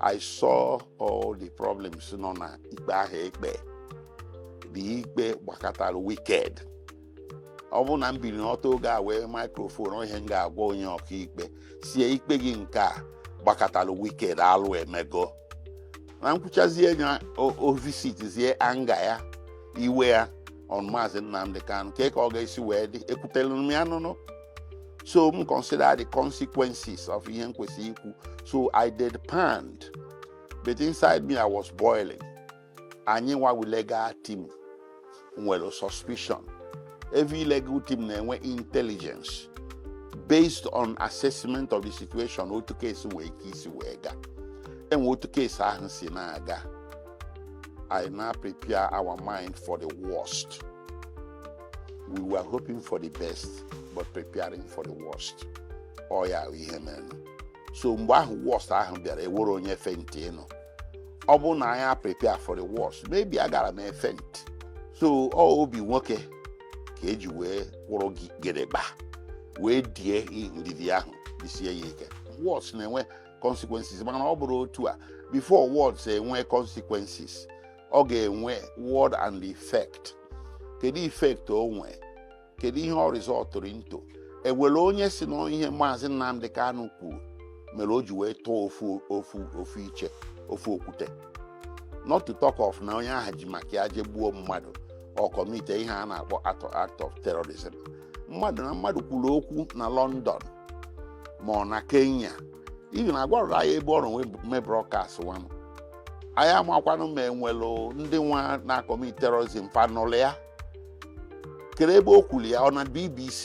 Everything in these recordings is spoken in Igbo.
I saw all the problems nọ na ikpe ahụ ekpe the ikpe gbakọtara wicked ọ bụrụ na m biri ọtọ oge a wee microphone ihe m ga-agwa onye ọkaikpe sie ikpe gị nke a gbakọtara wicked alụ emego na m kwuchazie nya ọ visitizie anger ya iwe ya on maazị Nnamdi Kanu kee ka ọ ga-esi wee dị ekwutere m ya n'ọnụ so m consider the consequences of ihe m kwesịrị ikwu so i deadpanned but inside me i was boiling anyị nwa wụ legal team nwere suspicion every legal team na-enwe intelligence based on assessment of the situation otu case nwee ike isi wee gaa enwe otu case ahụ si na-aga i now prepare our mind for the worst we were hoping for the best but preparing for the worst ọ ya ahụ ihe mere so mgbe ahụ worst ahụ bịara enwerọ onye faintịnụ ọ bụrụ na anyị prepare for the worst maybe agara m faint so ọ obi nwoke ka eji wee kwụrụ gedegba wee die ndidi ahụ disie ya ike words na-enwe consequences mana ọ bụrọ otu a before words enwe consequences ọ ga-enwe word and effect kedu effect o nwee kedu ihe ọ resultụrụ into enwere onye si na ihe maazị Nnamdi Kanu kwuru mere o ji wee tụọ ofu iche ofu okwute not to talk of na onye ahụ ji maka ya je gbuo mmadụ or commitie ihe a na-akpọ act of terrorism mmadụ na mmadụ kwuru okwu na London ma ọ na Kenya even agwarọdụ anyị ebe ọ nọrọ wee mee broadcast nwanụ anyị amakwanụ ma enwelụ ndị nwa na-acommit terrorism fa nụlụ ya kedu ebe o kwuru ya ọ na BBC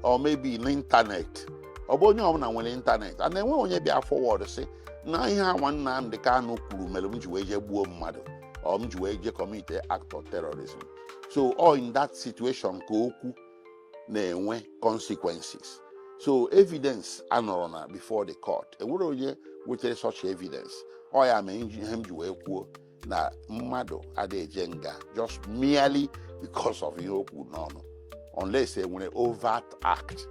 or maybe n'ịntanetị ọ bụ onye ọbụla nwere ịntanetị mana enweghị onye bịa forward sị na ihe a nwa Nnamdi Kanu kwuru mere m ji wee jee gbuo mmadụ or m ji wee jee commitie act of terrorism so ọ in that situation ka okwu na-enwe consequences so evidence anọrọ na before the court enwerọ onye wetara such evidence ọ ya mee ihe m ji wee kwuo na mmadụ ada eje nga just merely because of ihe o kwu n'ọnụ unless enwere overt act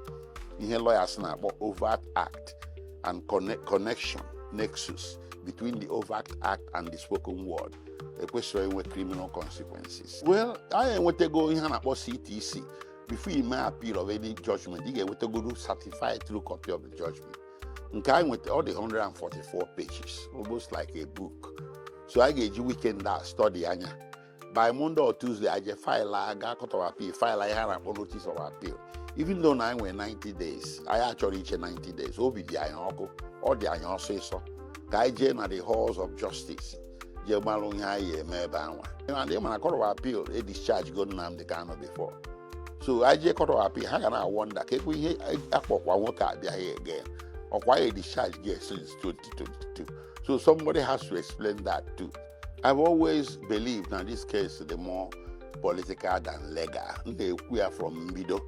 ihe lawyers na-akpọ overt act and connection nexus between the overt act and the spoken word ekwesịrị inwe criminal consequences well anyị enwetago ihe a na-akpọ ctc before ị mee appeal of any judgment ị ga-enwetagodu certified true copy of the judgment nke anyị nweta ọ dị 144 pages almost like a book so anyị ga-eji weekend a study anya by monday or tuesday anyị eje file a ga court of appeal file ihe a na-akpọ notice of appeal even though na anyị nwere 90 days anyị achọrọ iche 90 days obi dị anyị ọkụ ọ dị anyị ọsịsọ ka anyị jee na the halls of justice je malụ ihe anyị ya-eme ebe anwa and ị ma na court of appeal e discharge go Nnamdi Kanu before so anyị jee court of appeal ha ga na-a wonder kee kwa ihe a kpọkwa nwoke a bịa here again ọkwa e discharge go ya since 2022 so somebody has to explain that too I've always believed na this case dị more political than legal m na-ekwu ya from mbido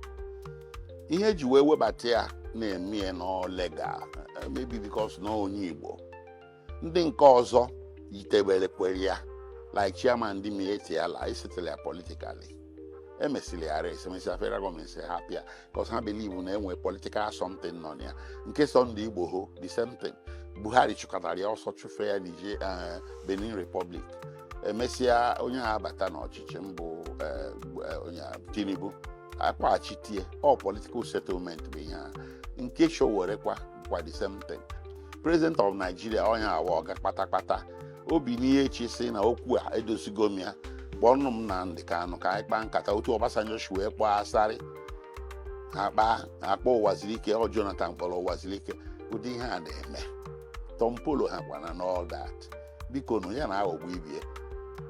ihe e ji wee webata ya na-eme ya na legal maybe because na onye Igbo ndị nke ọzọ yitebere kwere ya like chairman ndị miyetti allah e settle ya politically emesịrị ya arrest emesịa federal government sị hapụ ya 'cause ha believe na e nwe political something nọ na ya nke sunday igboho the same thing buhari chụkatara ya ọsọ chụfe ya niger eh, benin republic emesịa onye a abata n'ọchịchị bụ eh, eh, onye a, tinubu akpọghachite ya ọ political settlement bụ ihe a nke sowore kwa kwa the same thing president of nigeria onye anwa ọga kpatakpata ọ binie echi sị na okwu a edozigo m ya kpọọnụ m nnamdi kanu ka anyị kpaa nkata otu ọbasanjọ si wee kpọọ asari ha kpaa kpọọ ụwazuruike ọ jonathan kpọrọ ụwazuruike ụdị ihe a na-eme tompolo ha kwana and all that biko nụ ya na-aghọgbu ibie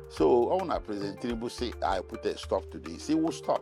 so ọ bụ na president tinubu sị i put a stop to this he will stop